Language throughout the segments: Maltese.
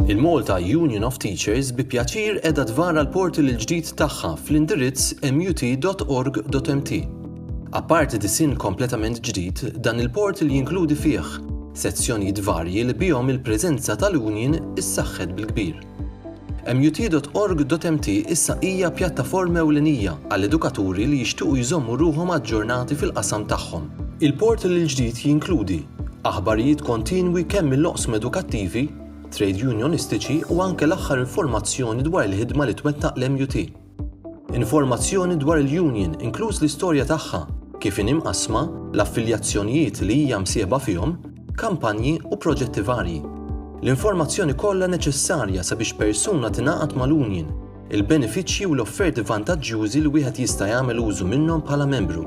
Il-Malta Union of Teachers bi pjaċir edha tvara l-portal il-ġdid tagħha fl-indirizz mut.org.mt. Apparti disin kompletament ġdid, dan il-portal jinkludi fih sezzjonijiet varji li bihom il-preżenza tal-Union issaħħet bil-kbir. MUT.org.mt issa hija pjattaforma ewlenija għall-edukaturi li jixtiequ jżommu ruħhom aġġornati fil-qasam tagħhom. Il-portal il-ġdid jinkludi aħbarijiet kontinwi kemm mill-oqsma edukattivi, trejdjunjonistiċi u anke l-aħħar informazzjoni dwar il-ħidma li twettaq l-MUT. Informazzjoni dwar il-union, inkluż l-istorja tagħha, kif inhi mqassma, l-affiljazzjonijiet li hija msieħba fihom, kampanji u proġetti varji. L-informazzjoni kollha neċessarja sabiex persuna tingħaqad mal-union, il-benefiċċji u l-offerti vantaġġjużi li wieħed jista' jagħmel użu minnhom bħala membru.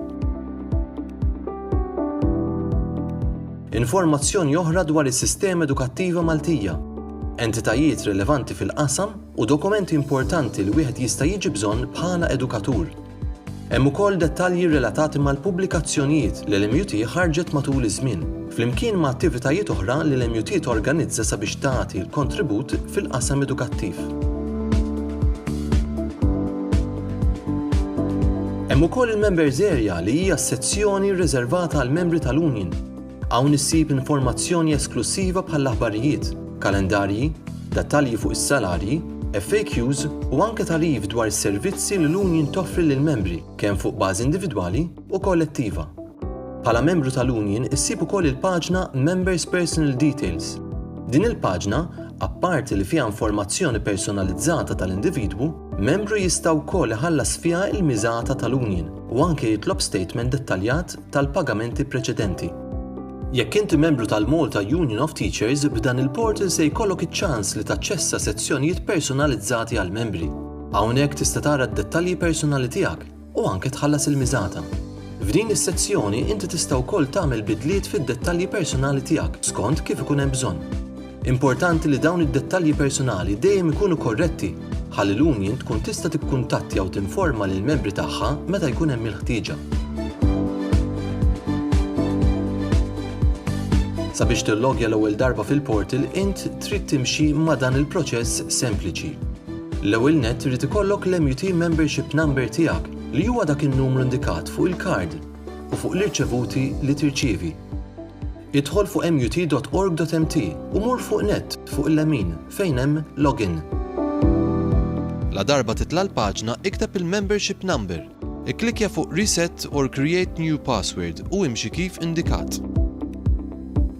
Informazzjoni oħra dwar is-sistema edukattiva Maltija, entitajiet rilevanti fil-qasam u dokumenti importanti li wieħed jista' jiġi bżonn bħala edukatur. Hemm ukoll dettalji relatati mal-pubblikazzjonijiet li l-MUT ħarġet matul iż-żmien, flimkien ma' attivitajiet oħra li l-MUT torganizza sabiex tagħti l-kontribut fil-qasam edukattiv. Hemm ukoll il-Members Area li hija s-sezzjoni rriżervata għall-membri tal-Union. Hawn issib informazzjoni esklussiva bħall-aħbarijiet, kalendarji, dettalji fuq is-salarji, FAQs u anke tagħrif dwar is-servizzi li l-Union toffri lill-membri kemm fuq bażi individwali u kollettiva. Bħala membru tal-Union issib ukoll il-paġna Members Personal Details. Din il-paġna, apparti li fiha informazzjoni personalizzata tal-individwu, membru jista' wkoll iħallas fiha il-miżata tal-Union u anke jitlob statement dettaljat tal-pagamenti preċedenti. Jekk inti membru tal-Malta Union of Teachers, b'dan il-portal se jkollok iċ-ċans li taċċessa sezzjonijiet personalizzati għall-membri. Hawnhekk tista' tara d-dettalji personali tiegħek u anke tħallas il-miżata. F'din is-sezzjoni inti tista' wkoll tagħmel bidliet fid-dettalji personali tiegħek skont kif ikun hemm bżonn. Importanti li dawn id-dettalji personali dejjem ikunu korretti ħalli l-union tkun tista' tikkuntattja u tinforma lill-membri tagħha meta jkun hemm il-ħtieġa. Sabiex tillogja l-ewwel darba fil-portal int trid timxi ma' dan il-proċess sempliċi. L-ewwel nett irid ikollok l-MUT Membership Number tiegħek li huwa dak in-numru indikat fuq il-kard. u fuq l-irċevuti li tirċievi. Idħol fuq mut.org.mt u mur fuq Net fuq il-lemin fejn hemm Login. Ladarba titla' l-paġna ikteb il-membership number, ikklikkja fuq Reset or Create New Password u imxi kif indikat.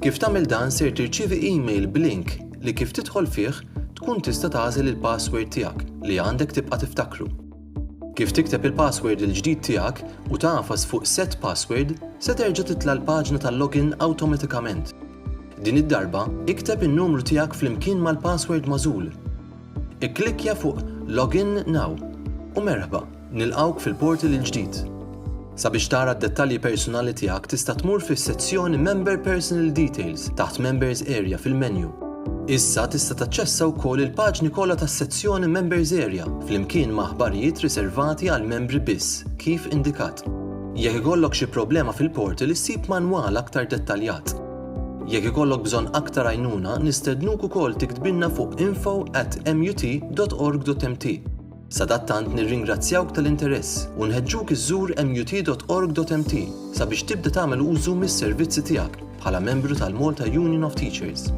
Kif tagħmel dan ser tirċievi email b'link li kif tidħol fih tkun tista' tagħżel il-password tiegħek li għandek tibqa' tiftakru. Kif tikteb il-password il-ġdid tiegħek u tagħfas fuq Set Password, se terġa' titla' l-paġna tal-login awtomatikament. Din id-darba, ikteb in-numru tiegħek flimkien mal-password magħżul. Ikklikkja fuq Login Now u merħba, nilqgħuk fil-portal il-ġdid. Sabiex tara d-dettalji persunali tiegħek tista' tmur fis-sezzjoni Member Personal Details taħt Members Area fil-menju. Issa tista' taċċessa wkoll il-paġni kollha tas-sezzjoni Members Area flimkien ma' aħbarijiet riservati għall-membri biss, kif indikat. Jekk ikollok xi problema fil-portal issib manwal aktar dettaljat. Jekk ikollok bżonn aktar għajnuna, nistednuk ukoll tiktbilna fuq info@mut.org.mt. Sadattant nirringrazzjawk tal-interess u nħeġġuk iżżur mut.org.mt sabiex tibda tagħmel użu mis-servizzi tiegħek bħala membru tal-Malta Union of Teachers.